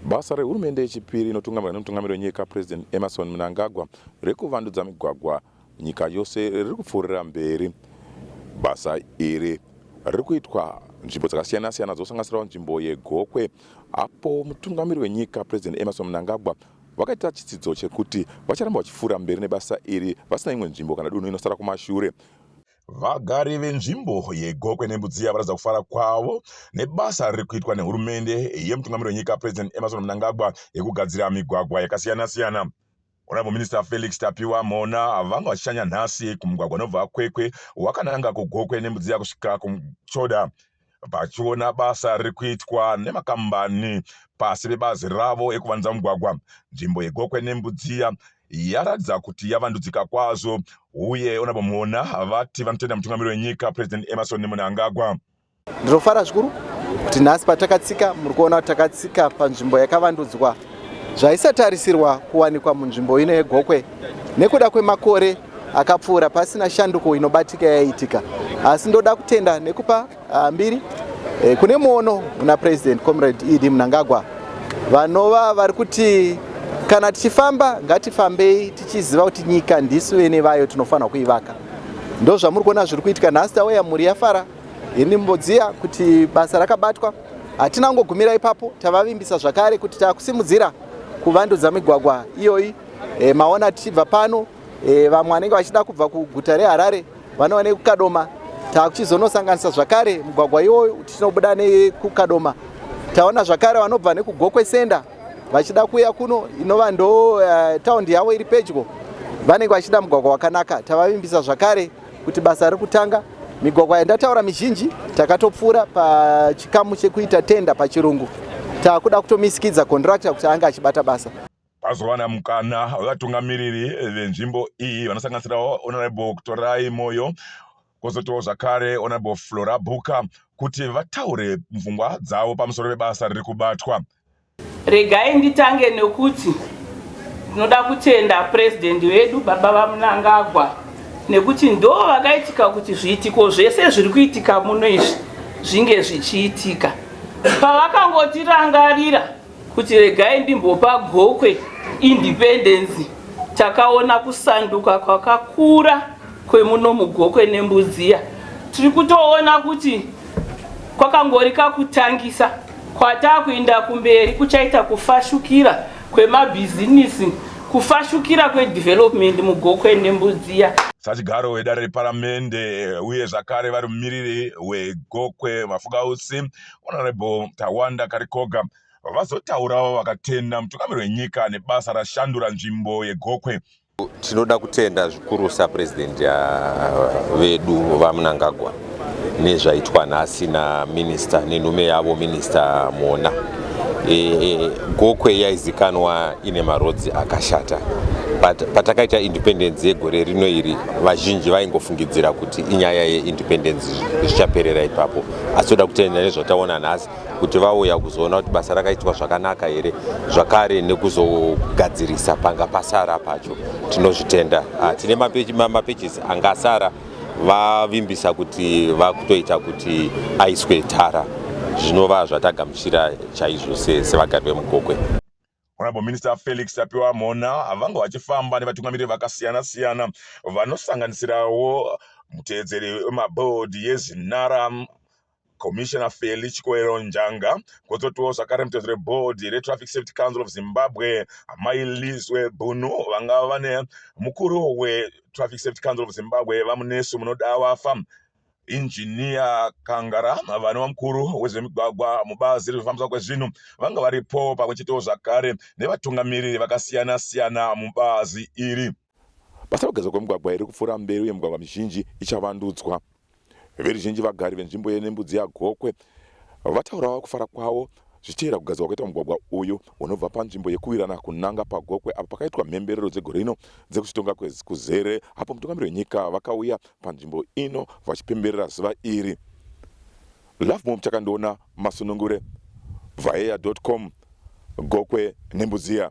Basa rehurumende yechipiri inotungamirwa nemutungamiri wenyika President Emerson Mnangagwa rekuvandudza migwagwa nyika yose riri kupfuurira mberi. Basa iri riri kuitwa nzvimbo dzakasiyana siyana dzosanganisirawo nzvimbo yegokwe apo mutungamiri wenyika President Emerson Mnangagwa Vakaita chitsidzo chekuti vacharamba vachipfuura mberi nebasa iri vasina imwe nzvimbo kana dunhu inosara kumashure. Vagari venzvimbo yeGokwe neMbudziya varatidza kufara kwavo nebasa riri kuitwa nehurumende yemutungamiri wenyika President Emmerson Mnangagwa yekugadzira migwagwa yakasiyana siyana. Honorable Minister Felix Tapiwa Mhona vanga vachishanya nhasi kumugwagwa unobva Kwekwe wakananga kuGokwe neMbudziya kusvika kuMchoda vachiona basa riri kuitwa nemakambani pasi pebazi ravo ekuvanza mugwagwa nzvimbo yegokwe nembudziya yaratidza kuti yavandudzika kwazvo uye onabomona vati vanotenda mutungamiri wenyika president emerson munangagwa ndinofara zvikuru kuti nhasi patakatsika muri kuona kuti takatsika panzvimbo yakavandudzwa zvaisatarisirwa kuwanikwa munzvimbo ino yegokwe nekuda kwemakore akapfuura pasina shanduko inobatika yaiitika asi ndoda kutenda nekupa ah, mbiri eh, kune muono muna president comrade ed munangagwa vanova vari kuti kana tichifamba ngatifambei tichiziva kuti nyika ndisu vene vayo tinofanira kuivaka ndo zvamuri kuona zviri kuitika nhasi tauya mhuri yafara ini mbodziya kuti basa rakabatwa hatina kungogumira ipapo tavavimbisa zvakare kuti takusimudzira kuvandudza migwagwa iyoyi e, maona tichibva pano e, vamwe vanenge vachida kubva kuguta reharare vanova nekukadoma takuchizonosanganisa zvakare mugwagwa iwoyo tichinobuda nekukadoma taona zvakare vanobva nekugokwe senda vachida kuuya kuno inova ndo uh, eh, taundi yavo iri pedyo vanenge vachida mugwagwa wakanaka tavavimbisa zvakare kuti basa riri kutanga migwagwa yandataura mizhinji takatopfuura pachikamu chekuita tenda pachirungu takuda kutomisikidza kondirakta kuti ange achibata basa Vazowana mukana wevatungamiriri venzvimbo iyi vanosanganisirawo Honorable Kutorai Moyo kwozotiwo zvakare Honorable Flora Bhuka kuti vataure pfungwa dzavo pamusoro pebasa riri kubatwa. Regai nditange nekuti ndinoda kutenda President wedu Baba VaMnangagwa nekuti ndo vakaitika kuti zviitiko zvese zviri kuitika muno izvi zvinge zvichiitika. Pavakangotirangarira kuti regai ndimbopa gokwe independence takaona kusanduka kwakakura kwemuno mugokwe nembudziya tiri kutoona kuti kwakangori kakutangisa kwatakuenda kumberi kuchaita kufashukira kwemabhizinisi kufashukira kwedevelopment mugokwe nembudziya sachigaro wedare reparamende uye zvakare vari mumiriri wegokwe mafukausi honorable Tawanda Karikoga vazotaurawo vakatenda mutungamiri wenyika nebasa rashandura nzvimbo yeGokwe. Tinoda kutenda zvikurusa president uh, vedu VaMnangagwa nezvaitwa nhasi naminista nenhume yavo minista Mona. E, e, Gokwe yaizikanwa ine marodzi akashata patakaita independence yegore rino iri vazhinji vaingofungidzira kuti inyaya yeindependence zvichaperera ipapo asi toda kutenda nezvataona nhasi kuti vauya kuzoona kuti basa rakaitwa zvakanaka here zvakare nekuzogadzirisa panga pasara pacho tinozvitenda ah, tine mapages anga asara vavimbisa kuti vakutoita kuti aiswe tara zvinova zvatagamuchira chaizvo sevagari vemugokwe Honorable Minister Felix Tapiwa Mhona vanga vachifamba nevatungamiriri vakasiyana siyana vanosanganisirawo mutevedzeri wemabhodhi yeZinara Commissioner Feli Chikoero Njanga kozotiwo zvakare mutevedzeri webhodhi reTraffic Safety Council of Zimbabwe Amai Lizwe Bhunu vanga vane mukuru weTraffic Safety Council of Zimbabwe VaMunesu Munodawafa Injiniya Kangara vanova mukuru wezvemigwagwa mubazi rezvekufambiswa kwezvinhu vanga varipo pamwe chetewo zvakare nevatungamiriri vakasiyana siyana mubazi iri. Basa rekugezwa kwemigwagwa iri kupfuura mberi uye migwagwa mizhinji ichavandudzwa. Veruzhinji vagari venzvimbo yeNembudzi yaGokwe Vataurawo kufara kwavo zvichitevera kugadzirwa kwaita mugwagwa uyu unobva panzvimbo yekuwirana kunanga paGokwe apo pakaitwa mhemberero dzegore rino dzekuzvitonga kuzere apo mutungamiri wenyika vakauya panzvimbo ino vachipemberera zuva iri. Lovemore Muchakandiona, Masunungure, Vhaeya.com, Gokwe neMbudziya.